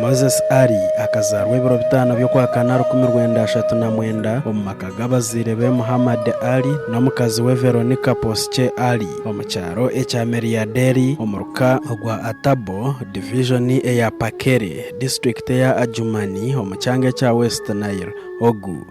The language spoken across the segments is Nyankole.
Moses Ali akazaarwa ebiro bitaano by'okwakana rukumi rwenda ashatu na mwenda omu maka g'abazaire be Muhammad Ali n'omukazi we Veronica Poosche Ali omu kyaro ekya Meriaderi omu ruka rwa Atabo, Divijoni eya Pakere, Disiturikiti eya Adjumani omu kyanga ekya West Nile. Ogu.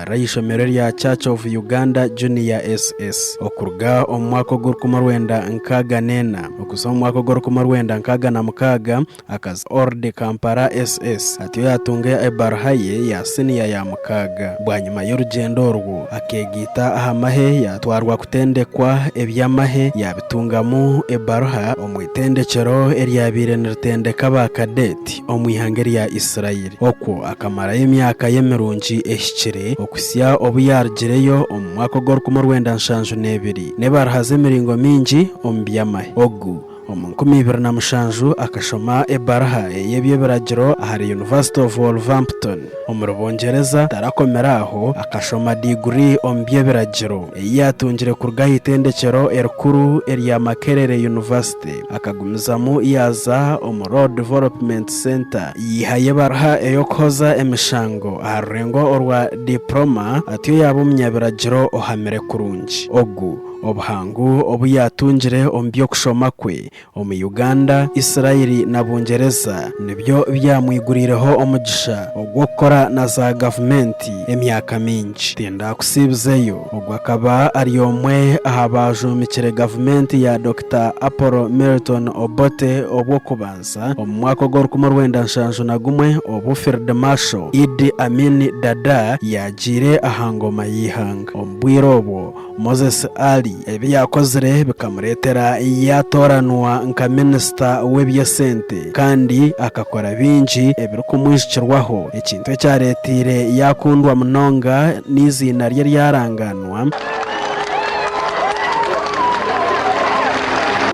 ari aha ishomero erya Church of Uganda Junior SS okuruga omu mwaka ogw'orukumi orwenda nkaaga n'ena okuhitsya omu mwaka ogw'orukumi orwenda nkaaga na mukaaga akaza Orde Kampala SS atyo yaatunga ebaruha ye ya siniya ya mukaaga. Bwanyima y'orugyendo orwo akeegaita aha mahe yaatwarwa kutendekwa eby'amahe yaabitungamu ebaruha omu itendekyero eryabaire niritendeka ba Cadet omu ihanga erya Israel. Okwo akamarayo emyaka ye mirungi ehikire, okuhitsya obu yaarugireyo omu mwaka ogw'orukumi orwenda nshanju n'ebiri. Nebarahaza emiringo mingi omu by'amahe. Ogu, omu nkumi ibiri na mushanju, akashoma ebaraha ey'eby'ebiragiro ahari University of Wolverhampton, omuri Bungyereza. Tarakomire aho, akashoma diguri omu by'ebiragiro, ei yaatungire kuruga aha Itendekyero Erikuru erya Makerere University. Akagumizamu yaaza omu Road Development Centre yihayo ebaruha ey'okuhoza emishango aha rurengo orwa Diploma atyo yaaba omunyabiragiro ohamire kurungi. Ogu obuhangu obu yaatungire omu by'okushoma kwe omu Uganda, Israeli na Bungyereza nibyo byamwiguriireho omugisha ogw'okukora na za gavumenti emyaka mingi. Tindaakusiibizeyo, ogu akaba ari omwe aha baajombikire gavumenti ya Dr. Dr Apollo Milton Obote obw'okubanza omu mwaka ogw'orukumi orwenda nshanju na gumwe obu Field Marshal Idi Amin Dada yaagiire aha ngoma y'eihanga. Omu bwire obwo, Moses Ali ebi yaakozire bikamureetera yaatooranwa nka minisita w'eby'esente kandi akakora bingi ebirikumwijukirwaho, ekintu ekyareeteire yaakundwa munonga n'eiziina rye ryarangaanwa. obumanwa,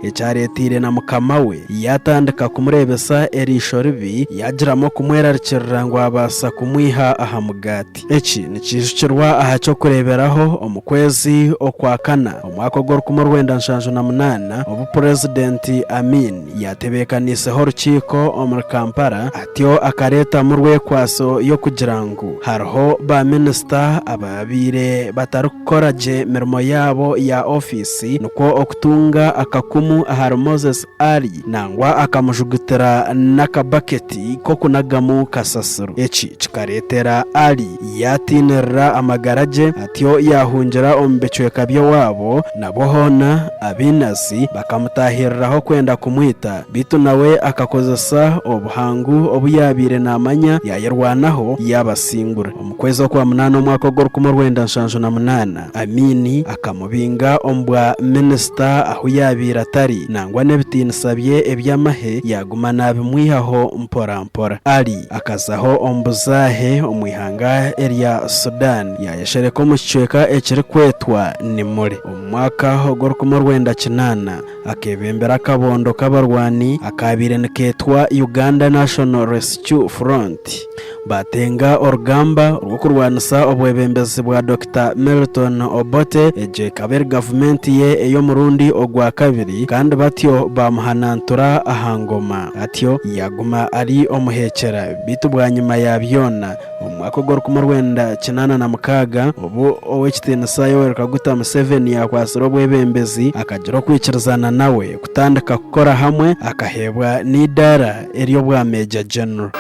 ekyareeteire na mukama we yaatandika kumureebesa eriisho ribi, yaagiramu okumwerarikirira ngu abaasa kumwiha aha mugaati. Eki nikiijukirwa aha ky'okureeberaho omu kwezi okwa kana omwaka ogw'orukumi orwenda nshanju na munaana, obu Purezidenti Amin yaatebeekaniiseho orukiiko omuri Kampala, Bityo akareetamu rwekwaso y'okugira ngu hariho baaminisita abaabaire batarikukora gye mirimo yaabo ya ofiisi, nikwo okutunga akakumu ahari Moses Ali nangwa akamujugutira n'akabaketi k'okunagamu kasasiro. Eki kikareetera Ali Yaatiinirira amagara gye, atyo yaahungira omu bicweka by'ewaabo, nabwo hoona Abeenasi bakamutaahiriraho kwenda kumwita. Beitu nawe akakozesa obuhangu obu yaabaire naamanya yaayerwanaho, yaabasingura. Omu kwezi okwa munaana omwaka ogw'orukumi orwenda nshanju na munaana, Amin akamubinga omu bwa minisita ahu yaabaire atari, nangwa n'ebitiinisa bye eby'amahe yaaguma naabimwihaho mporampora. Ali. Akazaho omu buzaahe omu ihanga erya Sudan, yaayeshereka omu kicweka ekirikwetwa Nimule. Omu mwaka ogw'orukumi orwenda kinaana, akeebembera akabondo k'abarwani akaabaire nikeetwa Uganda National Rescue Front, baatenga orugamba rw'okurwanisa obwebembezi bwa Dokita Milton Obote, egyo ekaba eri gavumenti ye ey'omurundi ogwa kabiri, kandi batyo baamuhanantura aha ngoma. Atyo yaaguma ari omuheekyera. Beitu bwanyima ya byona, omu mwaka ogw'orukumi orwenda kinaana na mukaaga, obu Ow'ekitiinisa Yoweri Kaguta Museveni yaakwatsire obwebembezi, akagira okwikirizaana nawe kutandika kukora hamwe, akaheebwa n'eidaara ery'obwa Major General.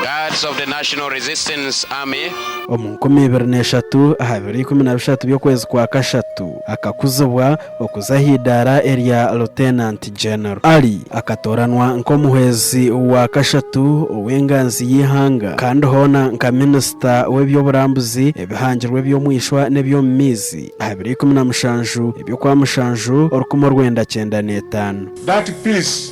Guards of the National Resistance Army. Omu nkumi ibiri na eshatu, aha biro ikumi na bishatu by'okwezi kwa kashatu, akakuzibwa Okuza aha idaara erya Lieutenant General, Ali akatooranwa nk'omuhwezi wa kashatu ow'enganzi y'eihanga kandi hoona nka Minisita w'eby'oburambuzi, ebihangirwe eby'omu ishwa n'eby'omu maizi aha biro ikumi na mushanju eby'okwa mushanju orukumi orwenda kyenda n'etaano. That peace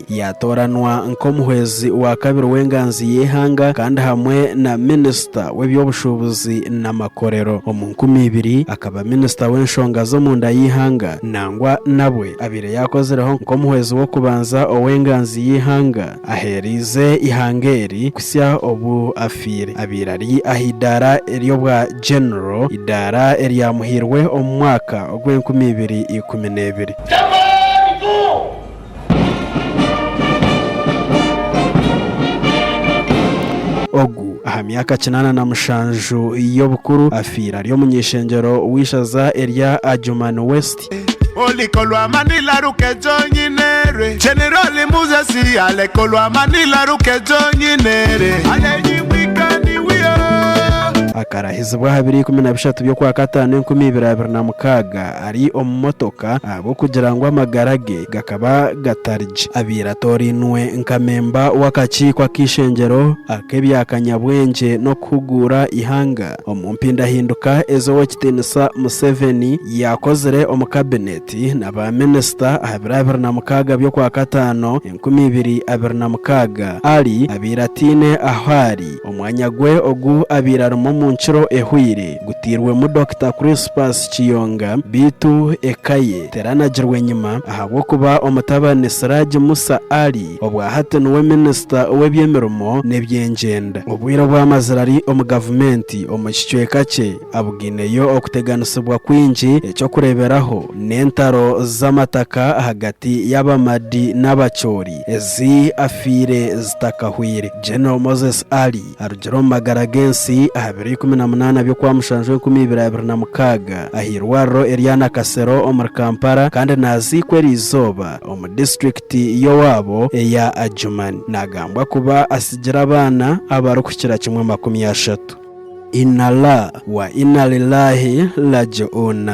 Yaatooranwa nk'omuhwezi wa kabiri w'enganzi y'eihanga kandi hamwe na minisita w'eby'obushuubuzi n'amakorero. Omu nkumi ibiri, akaba minisita w'enshonga z'omunda y'eihanga nangwa nabwe abaire yaakozireho nk'omuhwezi w'okubanza ow'enganzi y'eihanga aheereize eihanga eri kuhitsya obu afiire. Abaire ari aha eidaara ery'obwa Genero, eidaara eryamuhairwe omu mwaka ogw'enkumi ibiri ikumi n'ebiri. Ogu aha myaka kinaana na mushanju y'obukuru afiire ari omuny'ishengyero w'eishaza erya Adjumani West. Oliko lwa Manila rukejo nyine rwe Generali Muzesi Aleko lwa Manila rukejo nyine re Ale nyimwika ni wiyo. Akarahizibwa aha biro ikumi na bishatu by'okwakataano enkumi ibiri abiri na mukaaga. ari omu motoka ahabw'okugira ngu amagara ge gakaba gatari gye. Abaire atoorainwe nka memba w'akakiiko ak'eishengyero ak'ebya kanyabwengye n'okuhuguura eihanga omu mpindahinduka ezi Ow'ekitiinisa Museveni yaakozire omu kabineeti na baaminisita aha biro abiri na mukaaga by'okwakataano, enkumi ibiri abiri na mukaaga, Ali abaire ataine ahu ari, omwanya gwe ogu abaire arimu omu nkiro ehweire gutairwemu Dokita Crispus Kiyonga beitu eka ye teranagirwa enyima ahabw'okuba omutabani Siraji Musa Ali obwa hati niwe Minisita ow'ebyemirimo n'ebyengyenda obwire obu amazire ari omu gavumenti omu kicweka kye abwaineyo okuteganisibwa kwingi, eky'okureeberaho n'entaro z'amataka ahagati y'Abamadi n'Abacholi ezi afiire zitakahweire. General Moses Ali arugire omu magara g'ensi aha biro ikumi na munaana by'okwa mushanju enkumi ibiri abiri na mukaaga aha irwariro erya Nakasero omuri Kampala kandi naaziikwa eri izooba omu disiturikiti y'owaabo eya Adjumani. Naagambwa kuba atsigire abaana abarikukira kimwe makumi ashatu. Inallah wa Inalillaahi Raaji'uun